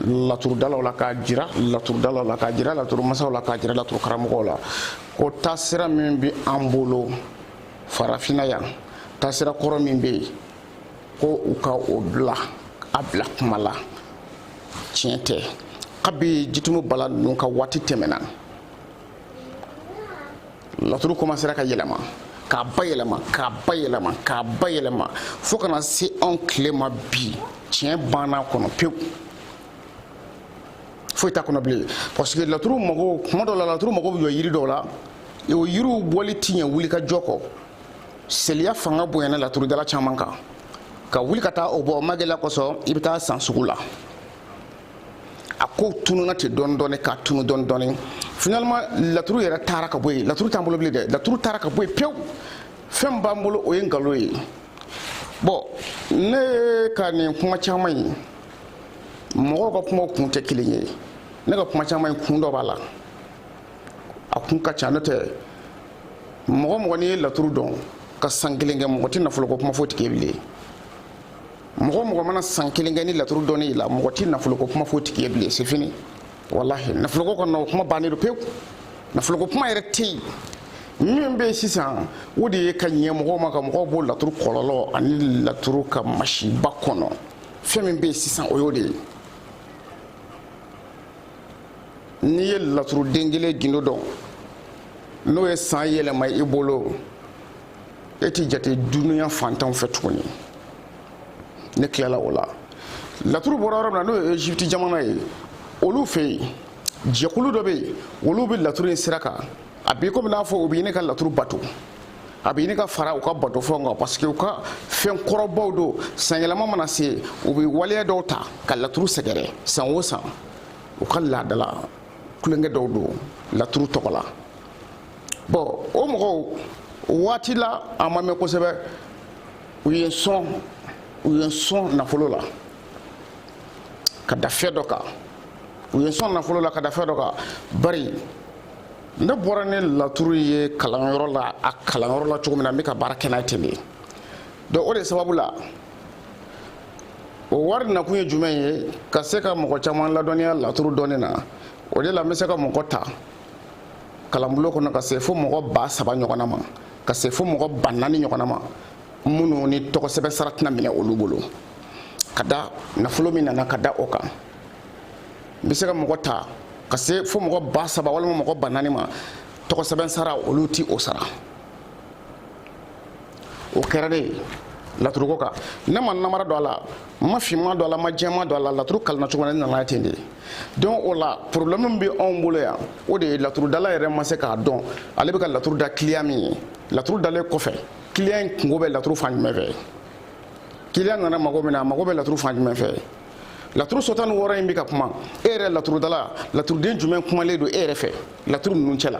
laturudalaw la k'a jira laturudalaw la k'a jira laturumasaw la k'a jira laturukaramɔgɔw la ko taasira min bɛ an bolo farafinna yan taasira kɔrɔ min bɛ yen ko u ka o bila a bila kuma la tiɲɛ tɛ kabi jitumu bala ninnu ka waati tɛmɛna laturu komansera ka yɛlɛma k'a bayɛlɛma k'a bayɛlɛma k'a bayɛlɛma fo ka na se anw tile ma bi tiɲɛ banna a kɔnɔ pewu foyi t'a kɔnɔ bilen parce que laturu mago kuma dɔ la laturu mago bɛ jɔ yiri dɔw la o yiriw bɔli ti ɲɛ wuli ka jɔ kɔ seliya fanga bonyana laturudala caman kan ka wuli ka taa o bɔ magɛlɛya kosɔn i bɛ taa a san sugu la a ko tununa ten dɔɔni dɔɔni ka tunu dɔɔni dɔɔni finalement laturu yɛrɛ taara ka bɔ yen laturu t'an bolo bilen dɛ laturu taara ka bɔ yen pewu fɛn b'an bolo o ye nkalon ye bɔn ne ka nin kuma caman ye mɔgɔw ka kumaw kun tɛ kelen ye ne ka kuma caman kun dɔ b'a la a kun ka ca n'o tɛ mɔgɔ mɔgɔ n'i ye laturu dɔn ka san kelen kɛ mɔgɔ tɛ nafoloko kuma fɔ o tigi ye bilen mɔgɔ mɔgɔ mana san kelen kɛ nin laturu dɔnni la mɔgɔ tɛ nafoloko kuma fɔ o tigi ye bilen c'est fini walahi nafoloko kɔni o kuma bannen don pewu nafoloko kuma yɛrɛ tɛ yen min bɛ sisan o de ye ka ɲɛ mɔgɔw ma ka mɔgɔw bɔ laturu kɔlɔlɔ ani laturu ka masiba kɔnɔ fɛn min bɛ sisan o y'o de ye n'i ye laturuden kelen gindo dɔn n'o ye san yɛlɛma i bolo e t'i jate dunuya fantanw fɛ tuguni ne tilala o la laturu bɔra yɔrɔ min na n'o ye egypte jamana ye olu fɛ jɛkulu dɔ bɛ yen olu bɛ laturu in sira kan a b'i komi n'a fɔ u bɛ ɲini ka laturu bato a bɛ ɲini ka fara u ka batofɛnw kan parce que u ka fɛn kɔrɔbaw don sanyɛlɛma mana se u bɛ waleya dɔw ta ka laturu sɛgɛrɛ san o san u ka laadala tulonkɛ dɔw don laturu tɔgɔ la bɔn o mɔgɔw waati la a ma mɛn kosɛbɛ u ye n sɔn u ye n sɔn nafolo la ka da fɛn dɔ kan u ye n sɔn nafolo la ka da fɛn dɔ kan bari ne bɔra ni laturu ye kalanyɔrɔ la a kalanyɔrɔ la cogo min na n bɛ ka baara kɛ n'a ye ten de donc o de sababu la o wari nakun ye jumɛn ye ka se ka mɔgɔ caman ladɔnniya laturu dɔnni na o de la n bɛ se ka mɔgɔ ta kalanbulon kɔnɔ ka se fo mɔgɔ ba saba ɲɔgɔnna ma ka se fo mɔgɔ ba naani ɲɔgɔnna ma minnu ni tɔgɔsɛbɛn sara tɛna minɛ olu bolo ka da nafolo min nana ka da o kan n bɛ se ka mɔgɔ ta ka se fo mɔgɔ ba saba walima mɔgɔ ba naani ma tɔgɔsɛbɛn sara olu ti o sara o kɛra de ye laturuko kan ne ma namara don a la n ma finma don a la n ma jɛma don a la laturu kalanna cogo na ne nana ten de ye donc o la problème min bɛ anw bolo yan o de ye laturudala yɛrɛ ma se k'a dɔn ale bɛ ka laturu da client min ye laturu dalen kɔfɛ client in kungo bɛ laturu fan jumɛn fɛ client nana mago min na a mago bɛ laturu fan jumɛn fɛ laturu so tan ni wɔɔrɔ in bɛ ka kuma e yɛrɛ laturudala laturuden jumɛn kumalen don e yɛrɛ fɛ laturu ninnu cɛ la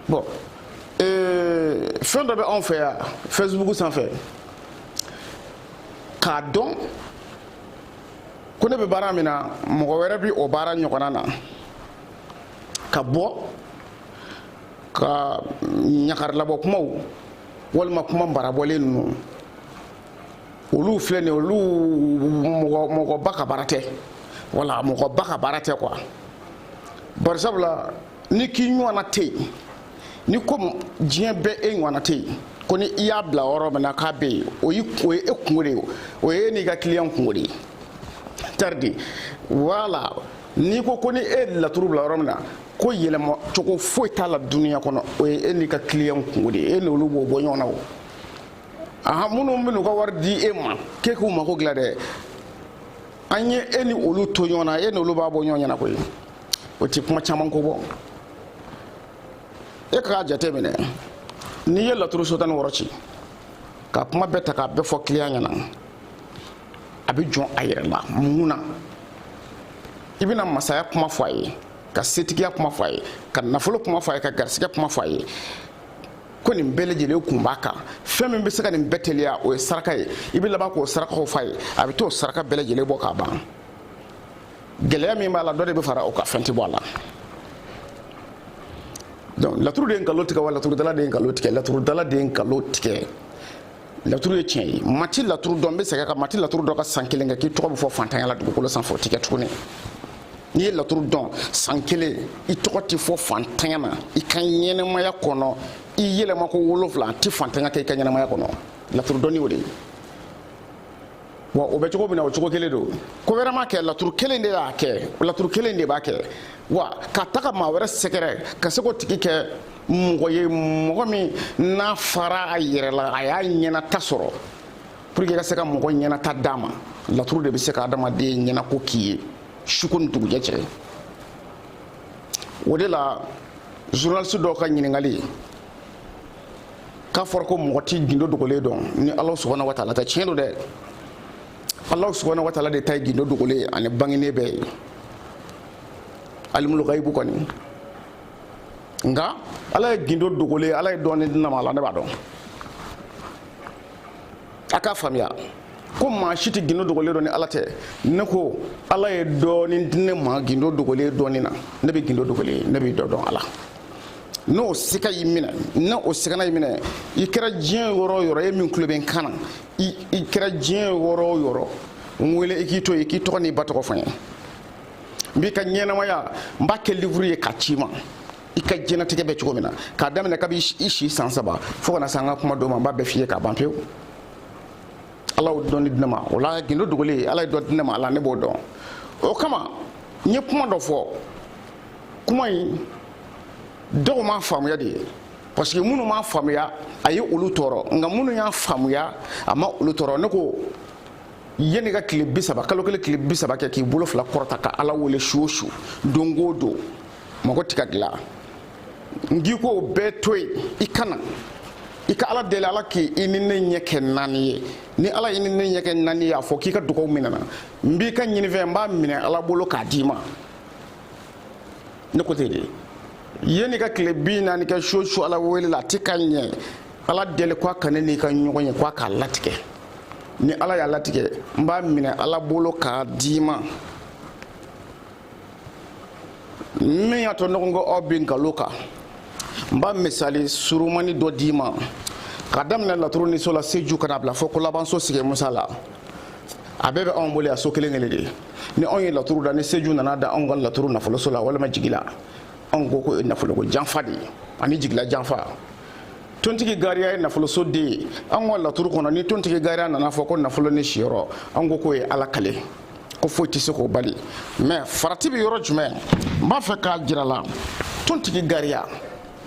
bon ee, fɛn dɔ bɛ anw fɛ yan fɛsibuku sanfɛ k'a dɔn ko ne bɛ baara min na mɔgɔ wɛrɛ bɛ o baara ɲɔgɔnna na ka bɔ ka ɲagarilabɔ kumaw walima kuma barabɔlen ninnu olu filɛ nin olu mɔgɔba ka baara tɛ voilà mɔgɔba ka baara tɛ quoi bari sabu la n'i k'i ɲɔgɔnna tɛ yen n'i ko diɲɛ bɛɛ e ɲɔgɔnna tɛ yen ko ni i y'a bila yɔrɔ min na k'a bɛ yen o ye e kungo de ye o ye e n'i ka client kungo de ye taridi voilà n'i ko ko ni e laturu bila yɔrɔ min na ko yɛlɛma cogo foyi t'a la duniya kɔnɔ o ye e n'i ka client kungo de ye e n'olu b'o bɔ ɲɔgɔn na o aha minnu bɛ n'u ka wari di e ma k'e k'u mako dilan dɛ an ye e ni olu to ɲɔgɔn na e ni olu b'a bɔ ɲɔgɔn ɲɛna koyi o ti kuma caman ko bɔ e k'a jate minɛ n'i ye laturu so tan ni wɔɔrɔ ci ka kuma bɛɛ ta k'a bɛɛ fɔ client ɲɛna a bɛ jɔn a yɛrɛ la mun na i bɛna masaya kuma fɔ a ye ka setigiya kuma fɔ a ye ka nafolo kuma fɔ a ye ka garisigɛ kuma fɔ a ye ko nin bɛɛ lajɛlen kun b'a kan fɛn min bɛ se ka nin bɛɛ teliya o ye saraka ye i bɛ laban k'o sarakaw f'a ye a bɛ t'o saraka bɛɛ lajɛlen bɔ k'a ban gɛlɛya min b'a la dɔ de bɛ fara o kan fɛn tɛ bɔ a la donc laturu de ye nkalon tigɛ wa laturudala de ye nkalon tigɛ laturudala de ye nkalon tigɛ laturu ye tiɲɛ ye maa ti laturu dɔn n bɛ segin a kan maa ti laturu dɔn ka san kelen kɛ k'i tɔgɔ bɛ fɔ faantanya la dugukolo sanfɛ o ti kɛ tuguni n'i ye laturu dɔn san kelen i tɔgɔ tɛ fɔ faantanya na i ka ɲɛnɛmaya kɔnɔ i yɛlɛma ko wolonfila a tɛ faantanya kɛ i ka ɲɛnɛmaya kɔnɔ laturu dɔnni o de ye wa o bɛ cogo min na o cogo kelen don ko wɛrɛ ma kɛ laturu kelen de y'a kɛ laturu kelen de b'a kɛ wa ka taga maa wɛrɛ sɛgɛrɛ ka se k'o tigi kɛ mɔgɔ ye mɔgɔ min n'a fara a yɛrɛ la a y'a ɲɛnata sɔrɔ pour que i ka se ka mɔgɔ ɲɛnata d'a ma laturu de bɛ se ka adamaden ɲɛnako k'i ye suko ni dugujɛ cɛ o de la journaliste dɔw ka ɲininkali k'a fɔra ko mɔgɔ ti gindo dogolen dɔn ni ala subahana wa taala tɛ tiɲɛ don dɛ ala subahana wa taala de ta ye gindo dogolen ani bangenen bɛɛ ye alimul gaibu kɔni nka ala ye gindo dogolen ye ala ye dɔɔni di ne ma a la ne b'a dɔn a k'a faamuya ko maa si tɛ gindo dogolen dɔn ni ala tɛ ne ko ala ye dɔɔni di ne ma gindo dogolen dɔnni na ne bɛ gindo dogolen ye ne bɛ dɔ dɔn a la n'o sika y'i minɛ n'o sikana y'i minɛ i kɛra diɲɛ yɔrɔ o yɔrɔ e min tulo bɛ n kan na i kɛra diɲɛ yɔrɔ o yɔrɔ n wele i k'i to yen i k'i tɔgɔ n'i ba tɔgɔ fɔ n ye n b'i ka ɲɛnamaya n b'a kɛ livuru ye k'a c'i ma i ka diɲɛnatigɛ bɛ cogo min na k'a daminɛ kabi i si san saba fo ka na se an ka kuma don ma n b'a bɛɛ f'i ye k'a ban pewu ala y'o dɔnni di ne ma o la gindo dogolen ala ye dɔ di ne ma a la ne b'o dɔn o kama n ye kuma dɔ fɔ kuma in dɔw m'a faamuya de parce que minnu m'a faamuya a ye olu tɔɔrɔ nka minnu y'a faamuya a ma olu tɔɔrɔ ne ko yanni ka tile bi saba kalo kelen tile bi saba kɛ k'i bolo fila kɔrɔta ka ala wele su o su don o don mago ti ka dilan n k'i k'o bɛɛ to yen i ka na i ka ala deli ala k'i ni ne ɲɛ kɛ naani ye ni ala y'i ni ne ɲɛ kɛ naani ye a fɔ k'i ka dugaw minɛna n b'i ka ɲinifɛn n b'a minɛ ala bolo k'a d'i ma ne ko ten de yanni ka tile bi naani kɛ su o su ala wele la a ti ka ɲɛ ala deli k'a ka ne n'i ka ɲɔgɔn ye k'a k'a latigɛ ni ala y'a latigɛ n b'a minɛ ala bolo k'a d'i ma min y'a to ɲɔgɔn ko aw bɛ nkalon kan n b'a misali surumani dɔ d'i ma ka daminɛ laturu ni so la seju ka n'a bila fo kolabanso sigi musa la a bɛɛ bɛ anw bolo yan so kelen kelen de ni anw ye laturu da ni seju nana da anw ka laturu nafoloso la walima jigila anw ko ko nafoloko janfa de ye ani jigila janfa tontigi gariya ye nafoloso den ye an ka laturu kɔnɔ ni tontigi gariya nana fɔ ko nafolo ni siyɔrɔ an ko k'o ye ala kale ko foyi tɛ se k'o bali mais farati bɛ yɔrɔ jumɛn n b'a fɛ k'a jira aw la tontigi gariya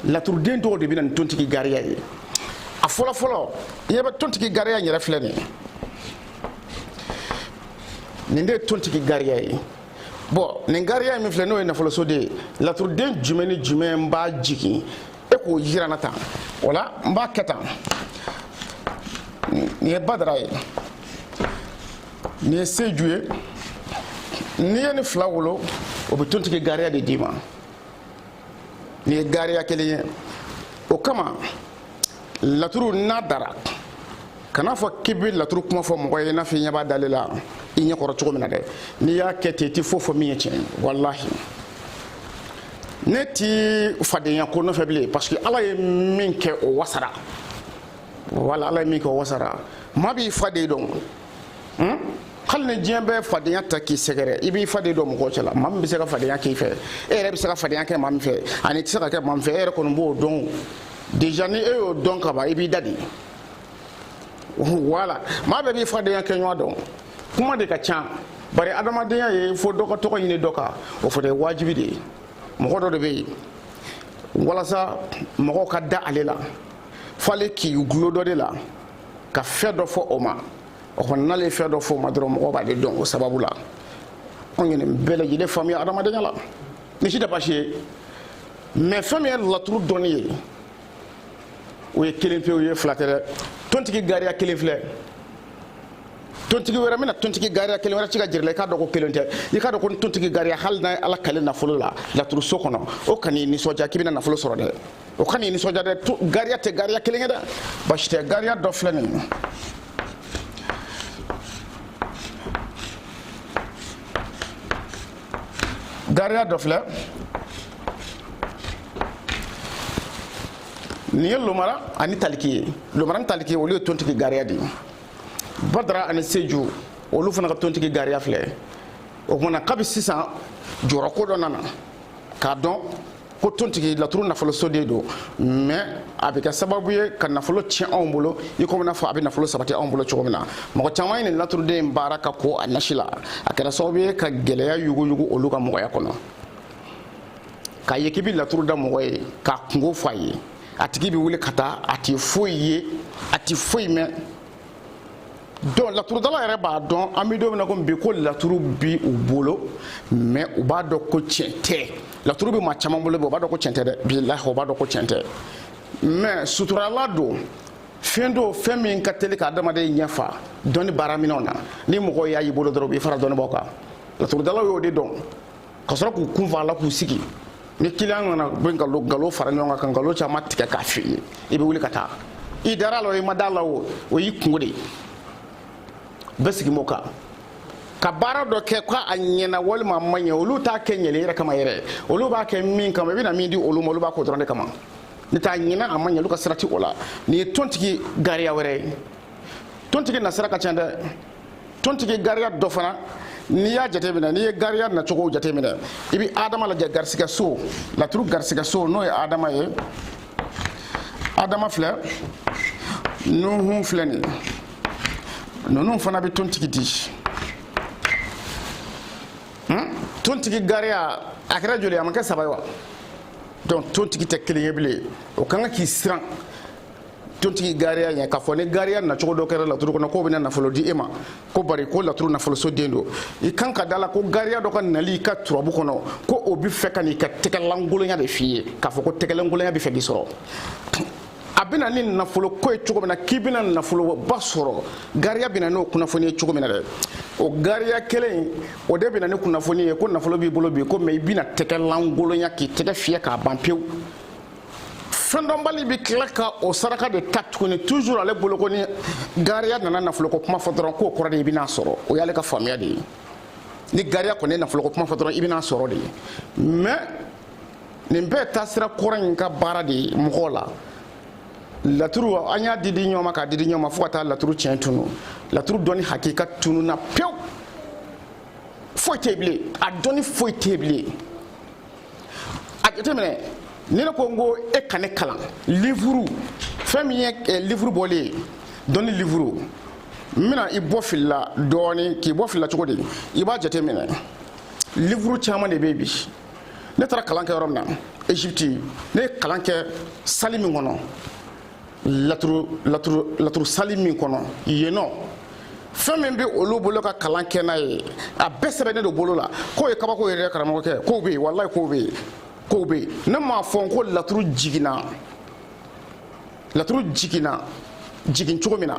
laturuden dɔw de bɛ na ni tontigi gariya ye a fɔlɔfɔlɔ i ɲɛ bɛ tontigi gariya yɛrɛ filɛ nin ye nin de ye tontigi gariya ye bon nin gariya min filɛ n'o ye nafoloso de ye laturuden jumɛn ni jumɛn b'a jigin e k'o jira n na tan o la n b'a kɛ tan nin ye badara ye nin ye seju ye n'i ye nin fila wolo o bɛ tontigi gariya de d'i ma nin ye gariya kelen ye o kama laturu n'a dara kana fɔ k'i bɛ laturu kuma fɔ mɔgɔ ye i n'a fɔ i ɲɛ b'a dalen la i ɲɛ kɔrɔ cogo min na dɛ n'i y'a kɛ ten i tɛ foyi fɔ min ye tiɲɛ ye walahi ne ti fadenya ko nɔfɛ bilen parce que ala ye min kɛ o wasara wala ala ye min kɛ o wasara maa b'i faden dɔn hmm? hali ni diɲɛ bɛɛ fadenya ta k'i sɛgɛrɛ i b'i faden dɔn mɔgɔw cɛla maa min bɛ se ka fadenya k'i fɛ e yɛrɛ bɛ se ka fadenya kɛ maa min fɛ ani i tɛ se ka kɛ maa min fɛ e yɛrɛ kɔni b'o dɔn déjà ni e y'o dɔn ka ban i b'i da de voilà maa bɛɛ b'i fadenya kɛ ɲɔgɔn dɔn kuma de ka ca bari adamadenya ye fo dɔ ka tɔgɔ ɲini dɔ kan o fana ye wajibi de ye mɔgɔ dɔ de bɛ yen walasa mɔgɔw ka da ale la f'ale k'i gulo dɔ de la ka fɛn dɔ fɔ o ma o kɔni n'ale ye fɛn dɔ fɔ o ma dɔrɔn mɔgɔw b'ale dɔn o sababu la anw ye nin bɛɛ lajɛlen faamuya adamadenya la nin si tɛ baasi ye mais fɛn min ye laturu dɔnni ye o ye kelen pe o ye fila tɛ dɛ tontigi gariya kelen filɛ tontigi wɛrɛ bɛna tontigi gariya kelen wɛrɛ ci k'a jir'i la i k'a dɔn ko kelen tɛ i k'a dɔn ko tontigi gariya hali n'a ye ala kale nafolo la laturuso kɔnɔ o kan'i nisɔndiya k'i bɛna nafolo sɔrɔ dɛ o kan'i nisɔndiya dɛ gariya tɛ gariya kelen ye dɛ basi tɛ gariya dɔ filɛ nin ye gariya dɔ filɛ nin ye lomara ani taliki ye lomara ni taliki olu ye tontigi gariya de ye badara ani seju olu fana ka tontigi gariya filɛ o tuma na kabi sisan jɔyɔrɔ ko dɔ nana k'a dɔn ko tontigi laturu nafolo so de don mais a bɛ kɛ sababu ye ka nafolo tiɲɛ anw bolo i komi n'a fɔ a bɛ nafolo sabati anw bolo cogo min na mɔgɔ caman ye nin laturuden in baara ka ko a nasi la a kɛra sababu ye ka gɛlɛya yuguyugu olu ka mɔgɔya kɔnɔ k'a ye k'i bɛ laturu da mɔgɔ ye k'a kungo fɔ a ye a tigi bɛ wuli ka taa a tɛ foyi ye a tɛ foyi mɛn donc laturudala yɛrɛ b'a dɔn an bɛ don min na ko bi ko laturu bi u bolo mais u b'a dɔn ko tiɲɛ tɛ laturu bɛ maa caman bolo bi u b'a dɔn ko tiɲɛ tɛ dɛ bilahi u b'a dɔn ko tiɲɛ tɛ mais suturala don fɛn don fɛn min ka teli ka adamaden ɲɛfa dɔnni baaraminɛnw na ni mɔgɔw y'a y'i bolo dɔrɔn u b'i fara dɔnnibaaw kan laturudalaw y'o de dɔn ka sɔrɔ k'u kun fa a la k'u sigi ni client nana bɛ nkalon nkalon fara ɲɔgɔn kan ka nkalon caman tigɛ k'a f'i ye i bɛ wuli ka taa i dara a la o i ma da a la o o y'i kungo de ye bɛɛ sigi m'o kan ka baara dɔ kɛ ko a ɲɛna walima a ma ɲɛ olu t'a kɛ ɲɛli yɛrɛ kama yɛrɛ olu b'a kɛ min kama i bɛna min di olu ma olu b'a k'o dɔrɔn de kama ni t'a ɲɛna a ma ɲɛ olu ka sira tɛ o la nin ye tontigi gariya wɛrɛ ye tontigi nasira ka ca dɛ tontigi gariya dɔ fana n'i y'a jateminɛ n'i ye gariya nacogo jateminɛ i bɛ adama lajɛ garisigɛ so laturu garisigɛ so n'o ye adama ye adama filɛ nuhun filɛ nin ninnu fana bɛ tontigi di hmm? tontigi gariya a kɛra joli a ma kɛ saba ye wa donc tontigi tɛ kelen ye bilen o ka kan k'i siran tontigi gariya ɲɛ k'a fɔ ni gariya nacogo dɔ kɛra laturu kɔnɔ k'o bɛna nafolo di e ma ko bari ko laturu nafoloso den don i kan ka da la ko gariya dɔ ka nali i ka turabu kɔnɔ ko o bɛ fɛ ka n'i ka tɛgɛlankolonya de f'i ye k'a fɔ ko tɛgɛlankolonya bɛ fɛ k'i sɔrɔ a bɛ na ni nafolo ko ye cogo min na k'i bɛna nafoloba sɔrɔ gariya bɛ na n'o kunnafoni ye cogo min na dɛ o gariya kelen o de bɛ na ni kunnafoni ye ko nafolo b'i bolo bi ko mais i bɛna tɛgɛlankolonya k'i tɛgɛ fiyɛ k'a ban pewu fɛndɔnbali bɛ tila ka o saraka de ta tuguni toujours ale bolo ko ni gariya nana nafoloko kuma fɔ dɔrɔn k'o kɔrɔ de i bɛna sɔrɔ o y'ale ka faamuya de ye ni gariya kɔni ye nafoloko kuma fɔ dɔrɔn i bɛna sɔrɔ de ye mais nin bɛɛ taasira kɔrɔ in ka baara de ye mɔgɔw la laturu an y'a di di ɲɔgɔn ma k'a di di ɲɔgɔn ma fo ka taa laturu tiɲɛ tunu laturu dɔnni hakika tununa pewu foyi tɛ bilen a dɔnni foyi tɛ bilen a jateminɛ ni ne ko n ko e ka ne kalan livuru fɛn min ye eh, livuru bɔlen ye dɔnni livuru n bɛna i bɔ fili la dɔɔni k'i bɔ fili la cogo di i b'a jateminɛ livuru caman de bɛ yen bi ne taara kalan kɛ yɔrɔ min na égypte ne ye kalan kɛ sali min kɔnɔ laturu sali min kɔnɔ yen nɔ fɛn min bɛ olu bolo ka kalan kɛ n'a ye a bɛɛ sɛbɛnnen don bolo la k'o ye kabako yɛrɛ karamɔgɔkɛ k'o bɛ yen walayi k'o bɛ yen k'o bɛ yen ne m'a fɔ ko laturu jiginna laturu jiginna jigin cogo min na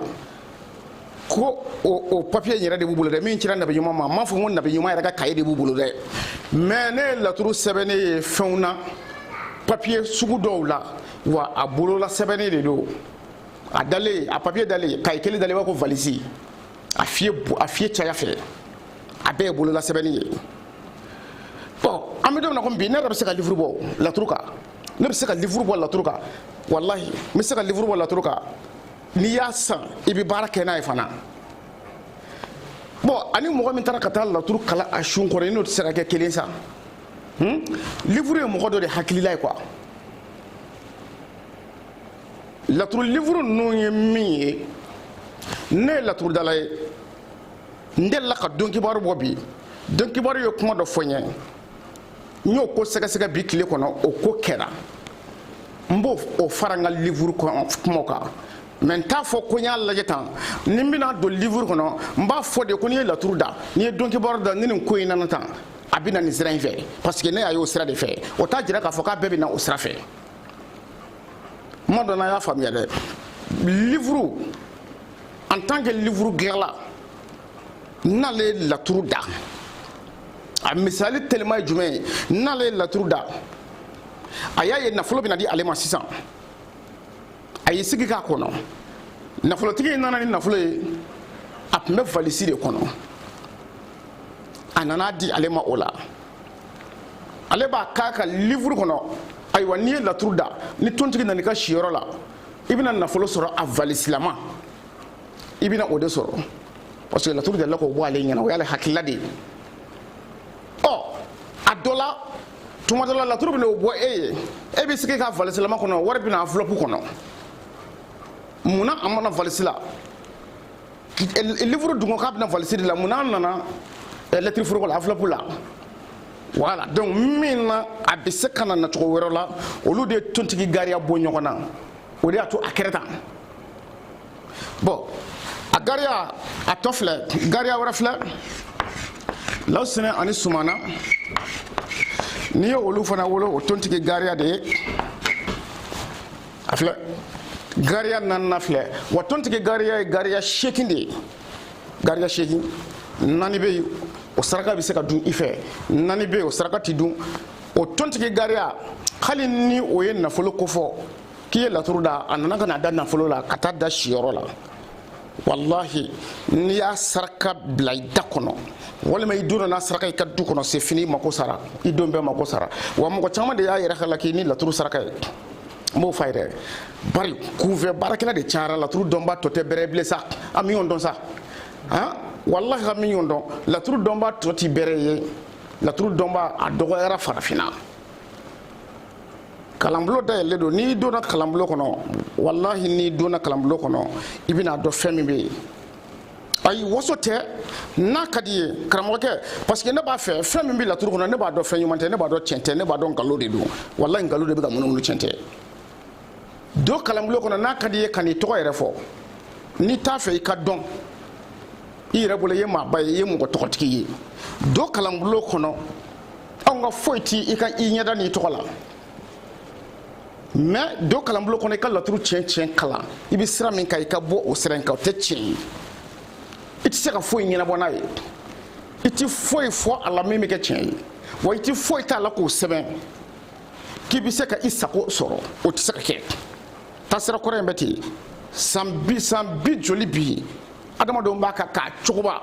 ko o papiye yɛrɛ de b'u bolo dɛ min cira nabi ɲuman ma n m'a fɔ ko nabi ɲuman yɛrɛ ka kaye de b'u bolo dɛ mais ne ye laturu sɛbɛnnen ye fɛnw na papiye sugu dɔw la wa a bolola sɛbɛnnen de don a dalen a papiye dalen kaye kelen dalen b'a ko valisi a fiye a fiye caya fɛ a bɛɛ ye bolola sɛbɛnni ye bon an bɛ don min na komi bi ne yɛrɛ bɛ se ka livuru bɔ laturu kan ne bɛ se ka livuru bɔ laturu kan walahi n bɛ se ka livuru bɔ laturu kan n'i y'a san i bɛ baara kɛ n'a ye fana bon ani mɔgɔ min taara ka taa laturu kalan a sun kɔrɔ i n'o tɛ se ka kɛ kelen sa hmm? livuru ye mɔgɔ dɔ de hakilila ye quoi laturu livuru ninnu ye min ye ne ye laturudala ye n delila ka don kibaru bɔ bi don kibaru ye kuma dɔ fɔ n ye n y'o ko sɛgɛsɛgɛ bi tile kɔnɔ o ko kɛra n b'o fara n ka livuru kumaw kan mais n t'a fɔ ko n y'a lajɛ tan ni n bɛna don livuru kɔnɔ n b'a fɔ de ko n'i ye laturu da n'i ye donkibaru da ni nin ko in nana tan a bɛ na nin sira in fɛ parce que ne y'a ye o sira de fɛ o t'a jira k'a fɔ k'a bɛɛ bɛ na o sira fɛ kuma dɔ la y'a faamuya dɛ livuru en tant que livuru dilanla n'ale ye laturu da a misali telima ye jumɛn ye n'ale ye laturu da a y'a ye nafolo bɛna di ale ma sisan a y'i sigi k'a kɔnɔ nafolotigi in nana ni nafolo ye a tun bɛ valisi de kɔnɔ a nan'a di ale ma o la ale b'a k'a ka livuru kɔnɔ ayiwa n'i ye laturu da ni tontigi nana i ka siyɔrɔ la i bɛna nafolo sɔrɔ a valisilama i bɛna o de sɔrɔ parce que laturu delila k'o bɔ ale ɲɛna o y'ale hakilila de ye ɔ a dɔ la tuma dɔ la laturu bɛna o bɔ e ye e bɛ sigi ka valisilama kɔnɔ wari bɛ na enveloppe kɔnɔ mun na a ma na valisi la livre dun ko k'a bɛ na valisi de la mun na a nana lɛtiri foroko la enveloppe la voilà donc min na a bɛ se ka na nacogo wɛrɛ la olu de ye tontigi gariya bɔ ɲɔgɔn na o de y'a to a kɛra tan bon a gariya a tɔ filɛ gariya wɛrɛ filɛ lawusinɛ ani sumana n'i ye olu fana wolo o tontigi gariya de ye a filɛ gariya naaninan filɛ wa tontigi gariya ye gariya seegin de ye gariya seegin naani bɛ yen o saraka bɛ se ka dun i fɛ naani bɛ yen o saraka tɛ dun o tontigi gariya hali ni o ye nafolo kofɔ k'i ye laturu da a nana ka na da nafolo la ka taa da siyɔrɔ la walahi n'i y'a saraka bila i da kɔnɔ walima i donna n'a saraka i ka du kɔnɔ c'est fini i mako sara i don bɛɛ mako sara wa mɔgɔ caman de y'a yɛrɛ halaki ni laturu saraka ye n b'o f'a ye dɛ bari kunfɛ baarakɛla de cayara laturu dɔnbaa tɔ tɛ bɛrɛ bilen sa an bɛ ɲɔgɔn dɔn sa han walahi an bɛ ɲɔgɔn dɔn laturu dɔnbaa tɔ ti bɛrɛ ye laturu dɔnbaa dɔgɔyara farafinna kalanbulon dayɛlɛlen don n'i donna kalanbulon kɔnɔ walahi n'i donna kalanbulon kɔnɔ i bɛn'a dɔn fɛn min bɛ yen ayi waso tɛ n'a ka d'i ye karamɔgɔkɛ parce que ne b'a fɛ fɛn min bɛ laturu kɔnɔ ne b'a dɔn fɛn ɲuman tɛ ne b'a dɔn tiɲɛ tɛ ne b'a dɔn nkalon de don walahi nkalon de bɛ ka munumunu tiɲɛ tɛ don kalanbulon kɔnɔ n'a ka d'i ye kan'i tɔgɔ yɛrɛ fɔ n'i t'a fɛ i ka dɔn i yɛrɛ bolo i ye maaba ye i ye mɔgɔ tɔgɔtigi ye don kalanbulon kɔnɔ anw ka foyi ti i ka i ɲɛda n'i tɔgɔ la mais don kalanbolo kɔnɔ i ka laturu tiɲɛ tiɲɛ kalan i bɛ sira min kan i ka bɔ o sira in kan o tɛ tiɲɛ ye i tɛ se ka foyi ɲɛnabɔ n'a ye i tɛ foyi fɔ a la min bɛ kɛ tiɲɛ ye wa i tɛ foyi t'a la k'o sɛbɛn k'i bɛ se ka i sago sɔrɔ o tɛ se ka kɛ taasira kɔrɔ in bɛ ten san bi joli bi adamadenw b'a kan k'a cogoba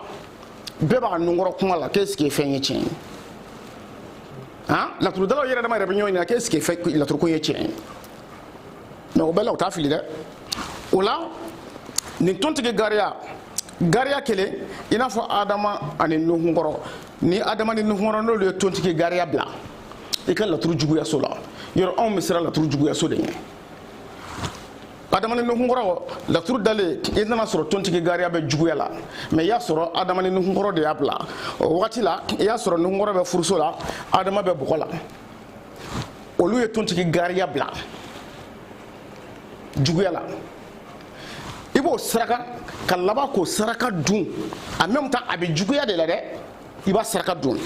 bɛɛ b'a nunkɔrɔ kuma la k'est-ce que fɛn ye tiɲɛ ye han laturudalaw yɛrɛ dama yɛrɛ bɛ ɲɔgɔn ɲininka k'est-ce que laturukun ye tiɲɛ ye mais o bɛɛ la u t'a fili dɛ o la nin tontigi gariya gariya kelen i n'a fɔ adama ani nuhun kɔrɔ ni adama ni nuhun kɔrɔ n'olu ye tontigi gariya bila i ka laturu juguyaso la yɔrɔ anw bɛ siran laturu juguyaso de ɲɛ adama ni nuhunkɔrɔ laturu dalen i nana sɔrɔ tontigi gariya bɛ juguya la mais i y'a sɔrɔ adama ni nuhunkɔrɔ de y'a bila o wagati la i y'a sɔrɔ nuhunkɔrɔ bɛ furuso la adama bɛ bɔgɔ la olu ye tontigi gariya bila juguya la i b'o saraka ka laban k'o saraka dun en même temps a bɛ juguya de la dɛ i b'a saraka dun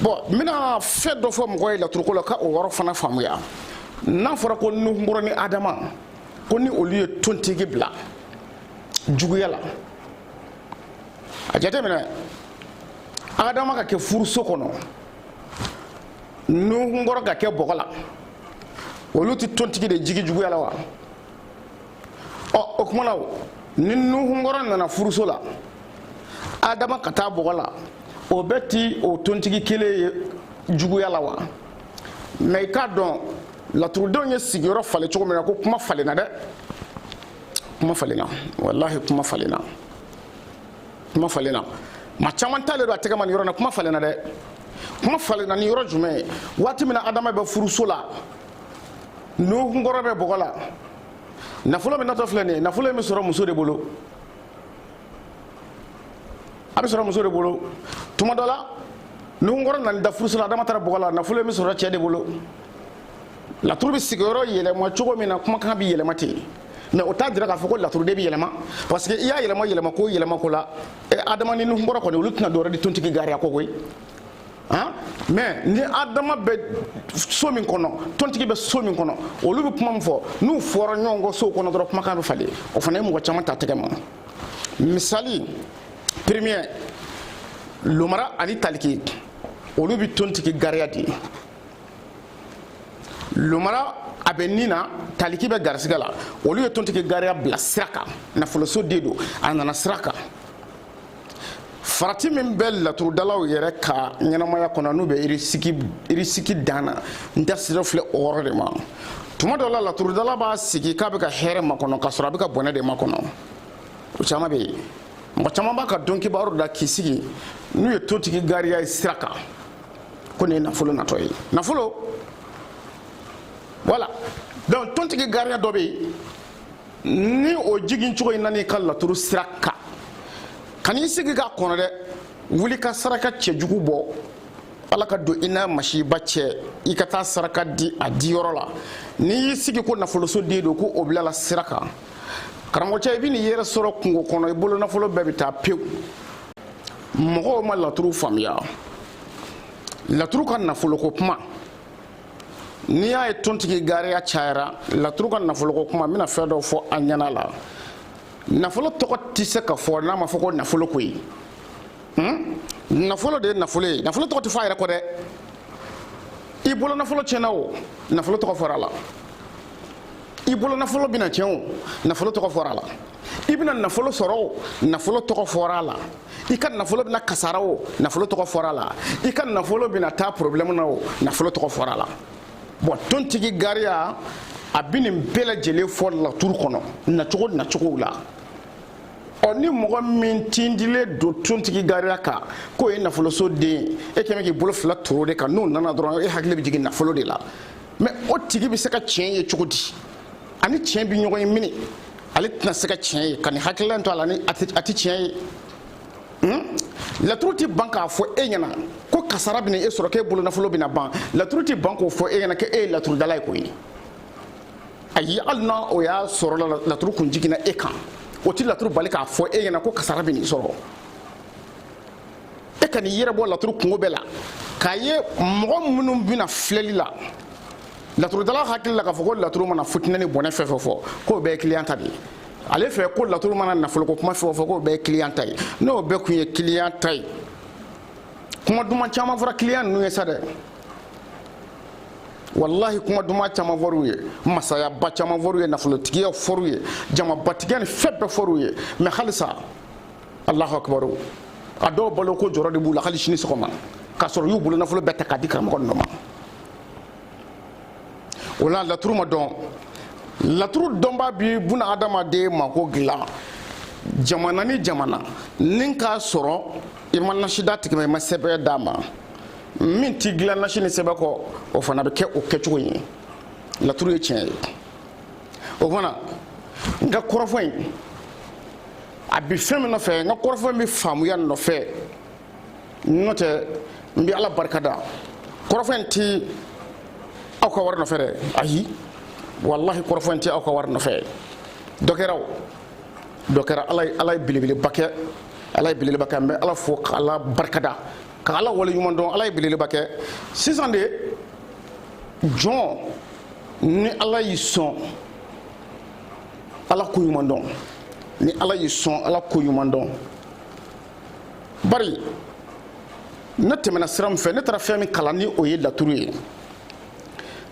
bon n bɛna fɛn dɔ fɔ mɔgɔ ye laturuko la ka o yɔrɔ fana faamuya n'a fɔra ko nuhunkɔrɔ ni adama ko ni olu ye tontigi bila juguya la a jateminɛ adama ka kɛ furuso kɔnɔ nuhunkɔrɔ ka kɛ bɔgɔ la olu tɛ tontigi de jigi juguya la wa ɔ o kuma na ni nuhunkɔrɔ nana furuso la adama ka taa bɔgɔ la o bɛ ti o tontigi kelen ye juguya la wa mais i k'a dɔn laturudenw ye sigiyɔrɔ falen cogo min na ko kuma falenna dɛ kuma falenna walahi kuma falenna kuma falenna maa caman t'ale dɔn a tɛgɛ ma nin yɔrɔ na kuma falenna dɛ kuma falenna ni yɔrɔ jumɛn ye waati min na adama bɛ furuso la nuhunkɔrɔ bɛ bɔgɔ la nafolo min natɔ filɛ nin ye nafolo in bɛ sɔrɔ muso de bolo a bɛ sɔrɔ muso de bolo tuma dɔ la nuhunkɔrɔ nana da furuso la adama taara bɔgɔ la nafolo in bɛ sɔrɔ cɛ de bolo laturu bɛ sigiyɔrɔ yɛlɛma cogo min na kumakan bɛ yɛlɛma ten mais o t'a jira k'a fɔ ko laturuden bɛ yɛlɛma parce que i y'a yɛlɛma yɛlɛma ko yɛlɛma ko la adama ni nuhunkɔrɔ kɔni olu tɛna dɔwɛrɛ di tontigi gariya kɔ koyi han mais ni adama bɛ so min kɔnɔ tontigi bɛ so min kɔnɔ olu bɛ kuma min fɔ n'u fɔra ɲɔgɔn kɔ sow kɔnɔ dɔrɔn kumakan bɛ falen o fana ye mɔgɔ caman ta tɛgɛ ma misali premier lomara ani taliki olu bɛ tontigi gariya di lomara a bɛ ni na taliki bɛ garisigɛ la olu ye tontigi gariya bila sira kan nafoloso de don a nana sira kan farati min bɛ laturudalaw yɛrɛ ka ɲɛnamaya kɔnɔ n'u bɛ irisiki dan na n da sera filɛ o yɔrɔ de ma tuma dɔ la laturudala b'a sigi k'a bɛ ka hɛrɛ makɔnɔ k'a sɔrɔ a bɛ ka bɔnɛ de makɔnɔ o caman bɛ yen mɔgɔ caman b'a ka donkibaru da k'i sigi n'u ye tontigi gariya ye sira kan ko nin ye nafolo natɔ ye nafolo voilà donc tontigi gariya dɔ bɛ yen ni o jigin cogo in nan'i ka laturu sira kan kan'i sigi k'a kɔnɔ dɛ wuli ka saraka cɛjugu bɔ ala ka don i n'a masiba cɛ i ka taa saraka di a diyɔrɔ la n'i y'i sigi ko nafoloso den don ko o bilala sira kan karamɔgɔcɛ i bɛn'i yɛrɛ sɔrɔ kungo kɔnɔ i bolo nafolo bɛɛ bɛ taa pewu mɔgɔw ma laturu faamuya laturu ka nafoloko kuma n'i y'a ye tontigi gariya cayara laturu ka nafoloko kuma n bɛna fɛn dɔ fɔ a ɲɛna la nafolo tɔgɔ tɛ se ka fɔ n'a ma fɔ ko nafolo koyi hmm? nafolo de ye nafolo ye nafolo tɔgɔ tɛ fɔ a yɛrɛ kɔ dɛ i bolo nafolo tiɲɛna o nafolo tɔgɔ fɔra a la i bolo nafolo bɛna tiɲɛ o nafolo tɔgɔ fɔra a la i bɛna nafolo sɔrɔ o nafolo tɔgɔ fɔra a la i ka nafolo bɛna kasara o nafolo tɔgɔ fɔra a la i ka nafolo bɛna taa problème na o nafolo tɔgɔ fɔra a la bɔn tontigi gariya a bɛ nin bɛɛ lajɛlen fɔ laturu kɔnɔ nacogo nacogow la ɔ ni mɔgɔ min tindilen don tontigi gariya kan k'o ye nafoloso den ye kɛmɛ k'i bolo fila turu o de kan n'o nana dɔrɔn e hakili bɛ jigin nafolo de la mɛ o tigi bɛ se ka tiɲɛ ye cogo di a ni tiɲɛ bɛ ɲɔgɔn ye mini ale tɛna se ka tiɲɛ ye ka nin hakilila to a la ni a tɛ tiɲɛ ye hmm? laturu tɛ ban k'a fɔ e ɲɛna ko kasara bɛna e sɔrɔ k'e bolonafolo bɛna ban laturu tɛ ban k'o fɔ e ɲɛna k'e ye laturudala ye koyi ayi hali n'a o y'a sɔrɔ laturu kun jiginna e kan o tɛ laturu bali k'a fɔ e ɲɛna ko kasara bɛn'i sɔrɔ e kan'i yɛrɛ bɔ laturu kunko bɛɛ la k'a ye mɔgɔ minnu bɛ na filɛli la laturudala hakili la k'a fɔ ko laturu mana fitinɛ ni bɔnɛ fɛn fɛn fɔ k'o bɛɛ ye kiliyan ta de ye ale fɛ ko laturu mana nafoloko kuma fɛn o fɛn k'o bɛɛ ye kiliyan ta ye n'o bɛɛ tun ye kiliyan ta ye kuma duman caman fɔra kiliyan ninnu ye sa dɛ walahi kuma duman caman fɔr'u ye masayaba caman fɔr'u ye nafolotigiya fɔr'u ye jamabatigiya ni fɛn bɛɛ fɔr'u ye mɛ halisa alahu akibaru a dɔw baloko jɔrɔ de b'u la hali sini sɔgɔma k'a sɔrɔ u y'u bolo nafolo bɛɛ ta k'a di karamɔgɔ ninnu ma o la laturu ma dɔn laturu dɔnbaa bɛ bunadamaden mako dilan jamana ni jamana ni k'a sɔrɔ i ma nasi d'a tigi ma i ma sɛbɛn d'a ma min t'i dilan nasi ni sɛbɛn kɔ o fana bɛ kɛ o kɛcogo ye laturu ye tiɲɛ ye o fana n ka kɔrɔfɔ in a bi fɛn min nɔfɛ n ka kɔrɔfɔ in bɛ faamuya nɔfɛ n'o tɛ n bɛ ala barika da kɔrɔfɔ in ti aw ka wari nɔfɛ dɛ ayi walahi kɔrɔfɔ in ti aw ka wari nɔfɛ dɔ kɛra o dɔ kɛra ala ye ala ye belebeleba kɛ ala ye belebeleba kɛ n bɛ ala fo ka ala barika da ka ala wale ɲuman dɔn ala ye belebeleba kɛ sisan de jɔn ni ala y'i sɔn ala ko ɲuman dɔn ni ala y'i sɔn ala ko ɲuman dɔn bari ne tɛmɛna sira min fɛ ne taara fɛn min kalan ni o ye laturu ye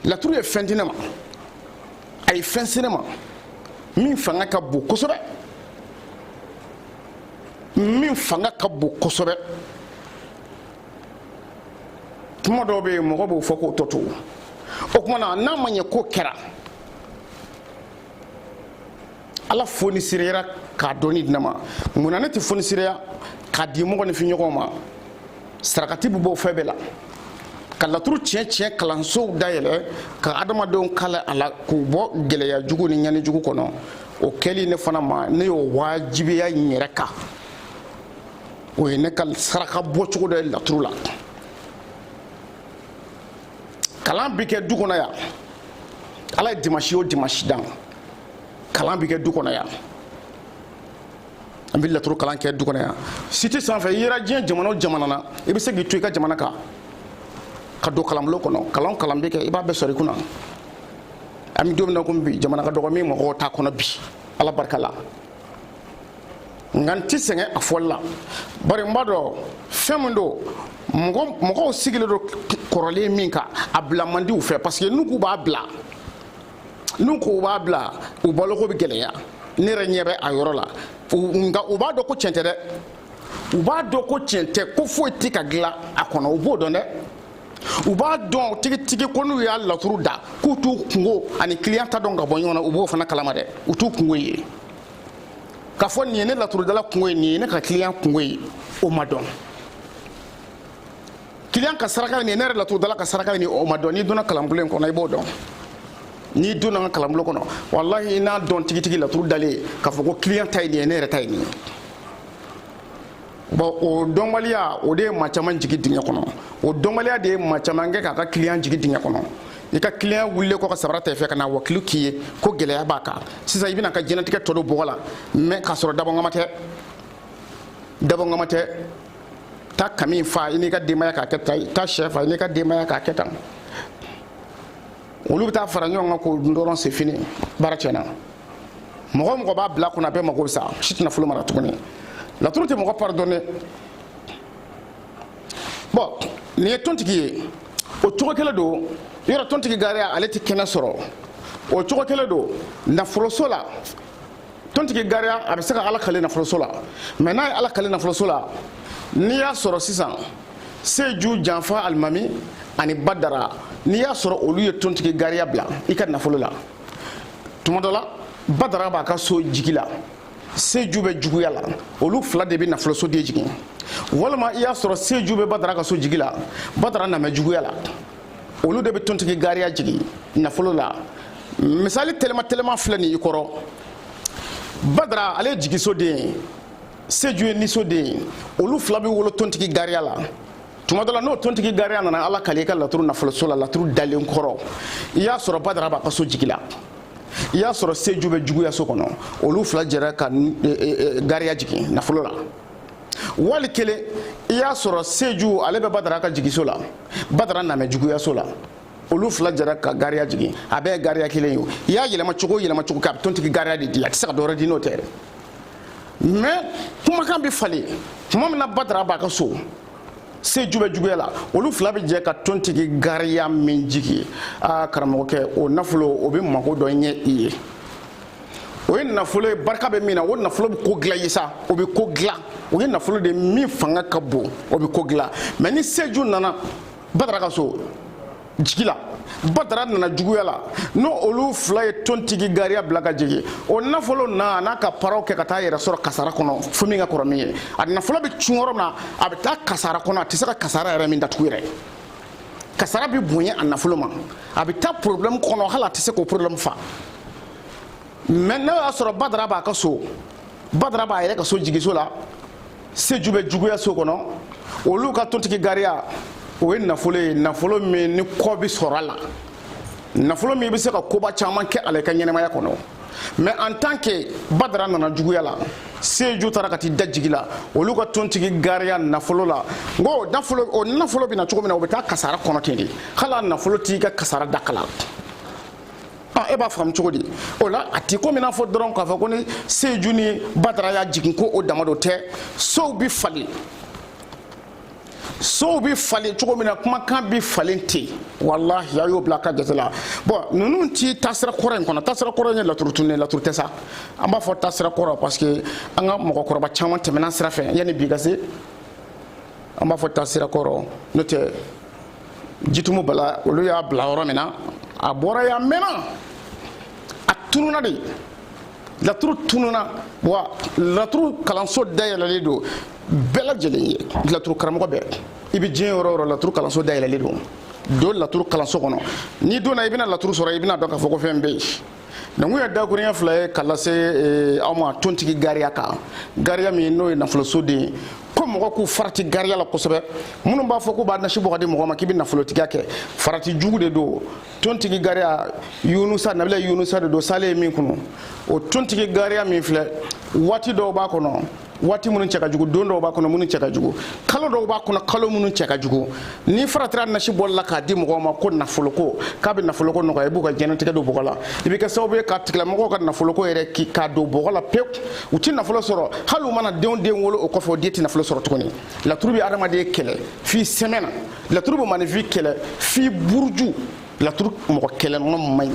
laturu ye fɛn di ne ma a ye fɛn se ne ma min fanga ka bon kosɛbɛ min fanga ka bon kosɛbɛ kuma dɔw bɛ yen mɔgɔ b'o fɔ k'o tɔ to o tuma na n'a ma ɲɛ k'o kɛra ala fonisireyara k'a dɔnni di ne ma mun na ne tɛ fonisireya k'a di mɔgɔninfin ɲɔgɔn ma sarakati bɛ bɔ fɛn bɛɛ la ka laturu tiɲɛ tiɲɛ kalansow dayɛlɛ ka adamadenw kalan a la k'u bɔ gɛlɛya jugu ni ɲani jugu kɔnɔ o kɛli ne fana ma ne y'o wajibiya n yɛrɛ kan o ye ne ka saraka bɔcogo dɔ ye laturu la kalan bɛ kɛ du kɔnɔ yan ala ye dimansi o dimansi dan kalan bɛ kɛ du kɔnɔ yan an bɛ laturu kalan kɛ du kɔnɔ yan site sanfɛ i yera diɲɛ jamana o jamana na i bɛ se k'i to i ka jamana kan ka don kalanbulon kɔnɔ kalan kalan bɛ kɛ i b'a bɛɛ sɔrɔ i kunna an bɛ don min na komi bi jamana ka dɔgɔ min mɔgɔw t'a kɔnɔ bi ala barika la nka n tɛ sɛgɛn a fɔli la bari n b'a dɔn fɛn min don mɔgɔw sigilen don kɔrɔlen min kan a bila man di u fɛ parce que n'u k'u b'a bila n'u k'u b'a bila u baloko bɛ gɛlɛya ne yɛrɛ ɲɛ bɛ a yɔrɔ la nka u b'a dɔn ko tiɲɛ tɛ dɛ u b'a dɔn ko tiɲɛ tɛ ko foyi tɛ ka dilan a kɔnɔ u b'o dɔn dɛ u b'a dɔn tigitigi ko n'u y'a laturu da k'u t'u kungo ani kiliyan ta dɔn ka bɔ ɲɔgɔn na u b'o fana kalama dɛ u t'u kungo ye k'a fɔ nin ye ne laturudala kungo ye nin ye ne ka kiliyan kungo ye o ma dɔn kiliyan ka saraka nin ye ne yɛrɛ laturudala ka saraka nin ye o ma dɔn n'i donna kalanbulon in kɔnɔ i b'o dɔn n'i donna n ka kalanbulon kɔnɔ walahi i n'a dɔn tigitigi laturu dalen k'a fɔ ko kiliyan ta ye nin ye ne yɛrɛ ta ye nin ye bɔn o dɔnbaliya o de ye maa caman jigi dingɛ kɔnɔ o dɔnbaliya de ye maa caman kɛ k'a ka kiliyan jigi dingɛ kɔnɔ i ka kiliyan wulilen kɔ ka sabara ta i fɛ ka na wakilu k'i ye ko gɛlɛya b'a kan sisan i bɛna a ka diɲɛlatigɛ tɔ don bɔgɔ la mɛ k'a sɔrɔ dabɔngama tɛ dabɔngama tɛ taa kami fa i n'i ka denbaya k'a kɛ tan taa sɛ fa i n'i ka denbaya k'a kɛ tan olu bɛ taa fara ɲɔgɔn kan k'o dun dɔrɔn se fini baara tiɲɛna mɔgɔ o mɔgɔ b'a bila kunna a bɛɛ mago bɛ sa si tɛ nafolo mara tuguni laturu tɛ mɔgɔ pardonner bon nin ye tontigi ye o cogo kelen don yɔrɔ tontigi gariya ale tɛ kɛnɛ sɔrɔ o cogo kelen don nafoloso la tontigi gariya a bɛ se ka ala kale nafoloso la mais n'a ye ala kale nafoloso la n'i y'a sɔrɔ sisan seju janfa alimami ani badara n'i y'a sɔrɔ olu ye tontigi gariya bila i ka nafolo la tuma dɔ la badara b'a ka so jigi la seju bɛ juguya la olu fila de bɛ nafolosoden jigin walima i y'a sɔrɔ seju bɛ badara ka so jigi la badara namɛ juguya la olu de bɛ tontigi gariya jigin nafolo la misali tɛlɛma tɛlɛma filɛ nin i kɔrɔ badara ale ye jigisoden ye seju ye nisoden ye olu fila bɛ wolo tontigi gariya la tuma dɔ la n'o tontigi gariya nana ala kale i ka laturu nafoloso la laturu dalen kɔrɔ i y'a sɔrɔ badara b'a ka so jigi la i y'a sɔrɔ seju bɛ juguya so kɔnɔ olu fila jɛra ka e, e, e, gariya jigin nafolo la wali kelen i y'a sɔrɔ seju ale bɛ badara ka jigiso la badara namɛ juguyaso la olu fila jɛra ka gariya jigin a bɛɛ ye gariya kelen ye i y'a yɛlɛma cogo o yɛlɛma cogo kɛ a bɛ tontigi gariya de di a tɛ se ka dɔ wɛrɛ di n'o tɛ dɛ mais kumakan bɛ falen tuma min na badara b'a ka so seju bɛ juguya la olu fila bɛ jɛ ka tontigi gariya min jigi a karamɔgɔkɛ o nafolo o bɛ mago dɔ ɲɛ i ye o ye nafolo ye barika bɛ min na o nafolo bɛ ko dilan i ye sa o bɛ ko dilan o ye nafolo de min fanga ka bon o bɛ ko dilan mais ni seju nana badara ka so jigi la badara nana juguya la n'o olu fila ye tontigi gariya bila ka jigin o nafolo na a n'a ka paraw kɛ ka taa yɛrɛ sɔrɔ kasara kɔnɔ fo min ka kɔrɔ min ye a nafolo bɛ cun yɔrɔ min na a bɛ taa kasara kɔnɔ a tɛ se ka kasara yɛrɛ min datugu yɛrɛ kasara bɛ bonya a nafolo ma a bɛ taa problème kɔnɔ hali a tɛ se k'o problème fa mais n'o y'a sɔrɔ badara b'a ka so badara b'a yɛrɛ ka so jigiso la seju bɛ juguya so kɔnɔ olu ka tontigi gariya o ye nafolo ye nafolo min ni kɔ bɛ sɔrɔ a la nafolo min bɛ se ka koba caman kɛ a la i ka ɲɛnamaya kɔnɔ mais en tant que badara nana juguya la seju taara ka t'i da jigi la olu ka tontigi gariya nafolo la n ko o nafolo o nafolo bɛ na cogo min na o bɛ taa kasara kɔnɔ ten de hali a nafolo t'i ka kasara dakala Ah, e b'a faamu cogo di o la a t'i komi n'a fɔ dɔrɔn k'a fɔ ko ni seju ni badara y'a jigin ko o dama dɔ tɛ sow bɛ falen sow bɛ falen cogo min na kumakan bɛ falen ten walahi a y'o bila a ka jate la bon ninnu ti taasira kɔrɔ in kɔnɔ taasira kɔrɔ in ye laturu tun ye laturu tɛ sa an b'a fɔ taasira kɔrɔ parce que an ka mɔgɔkɔrɔba caman tɛmɛna sira fɛ yanni bi ka se an b'a fɔ taasira kɔrɔ n'o tɛ jitumu bala olu y'a bila yɔrɔ min na a bɔra yan mɛnna a tununa de laturu tununa wa laturu kalanso dayɛlɛlen don bɛɛ lajɛlen ye laturu karamɔgɔ bɛɛ i bɛ diɲɛ yɔrɔ o yɔrɔ laturu kalanso dayɛlɛlen don don laturu kalanso kɔnɔ n'i donna i bɛna laturu sɔrɔ i bɛna dɔn k'a fɔ ko fɛn bɛ yen Donc o ye dakurunya fila ye ka lase aw ma tontigi gariya kan gariya min n'o ye nafoloso den ye ko mɔgɔw k'u farati gariya la kosɛbɛ minnu b'a fɔ k'u b'a nasi bɔ k'a di mɔgɔ ma k'i bɛ nafolotigiya kɛ farati jugu de don tontigi gariya yunusa nabila yunusa de don salen ye min kunu o tontigi gariya min filɛ waati dɔw b'a kɔnɔ waati minnu cɛ ka jugu don dɔw b'a kɔnɔ minnu cɛ ka jugu kalo dɔw b'a kɔnɔ kalo minnu cɛ ka jugu n'i faratira nasi bɔli la k'a di mɔgɔw ma ko nafoloko k'a bɛ nafoloko nɔgɔya i b'u ka diɲɛnatigɛ don bɔgɔ la i bɛ kɛ sababu ye k'a tigilamɔgɔw ka nafoloko yɛrɛ ki k'a don bɔgɔ la pewu u tɛ nafolo sɔrɔ hali u mana denw den wolo o kɔfɛ o den tɛ nafolo sɔrɔ tuguni laturu bɛ adamaden kɛlɛ f'i sɛmɛ na laturu bɛ maaninfin kɛlɛ f'i buruju laturu mɔgɔ kɛlɛnɔ man ɲi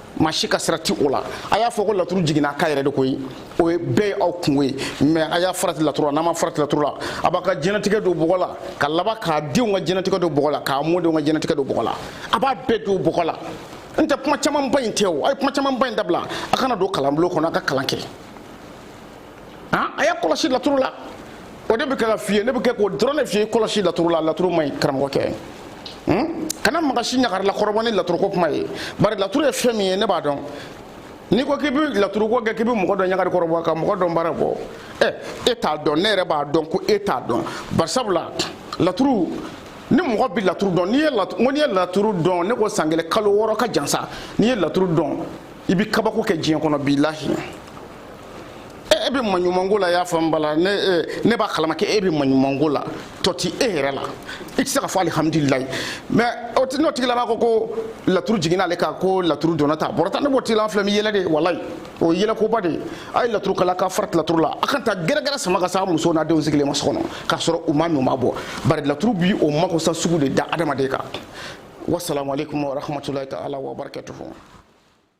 maa si ka sira ti o la a y'a fɔ ko laturu jiginna a kan yɛrɛ de koyi o ye bɛɛ ye aw kungo ye mais a y'a farati laturu la n'a m'a farati laturu la a b'a ka diɲɛnatigɛ don bɔgɔ la ka laban k'a denw ka diɲɛnatigɛ don bɔgɔ la k'a mɔdenw ka diɲɛnatigɛ don bɔgɔ la a b'a bɛɛ don bɔgɔ la n tɛ kuma camanba in tɛ o a ye kuma camanba in dabila a ka na don kalanbulon kɔnɔ a ka kalan kɛ han a y'a kɔlɔsi laturu la o de bɛ kɛ ka f'i ye ne bɛ kɛ k'o dɔrɔn de f'i ye kɔlɔsi laturu la laturu man ɲi karamɔgɔkɛ kana mɔgɔ si ɲagarila kɔrɔbɔ ni laturuko kuma ye bari laturu ye fɛn min ye ne b'a dɔn n'i ko k'i bɛ laturuko kɛ k'i bɛ mɔgɔ dɔ ɲagari kɔrɔbɔ ka mɔgɔ dɔn baara bɔ ɛ e t'a dɔn ne yɛrɛ b'a dɔn ko e t'a dɔn bari sabula laturu ni mɔgɔ bɛ laturu dɔn n'i ye laturu n'i ye laturu dɔn ne ko san kelen kalo wɔɔrɔ ka jan sa n'i ye laturu dɔn i bɛ kabako kɛ diɲɛ kɔnɔ bilahi e bɛ maɲumanko la y'a faamu bala ne ne b'a kalama k'e bɛ maɲumanko la tɔ ti e yɛrɛ la i tɛ se ka fɔ alihamudulilayi mais o ti n'o tigilamaa ko ko laturu jiginna ale kan ko laturu donna tan a bɔra tan ne b'o tigilamaa filɛ n bɛ yɛlɛ de walayi o ye yɛlɛkoba de ye a ye laturu kalan k'a farati laturu la a kana taa gɛrɛgɛrɛ sama ka s'a musow n'a denw sigilen ma so kɔnɔ k'a sɔrɔ u ma min u ma bɔn bari laturu bi o makosa sugu de da adamaden kan wasalamu aleykum warahmatulahi taala wabarakatuhu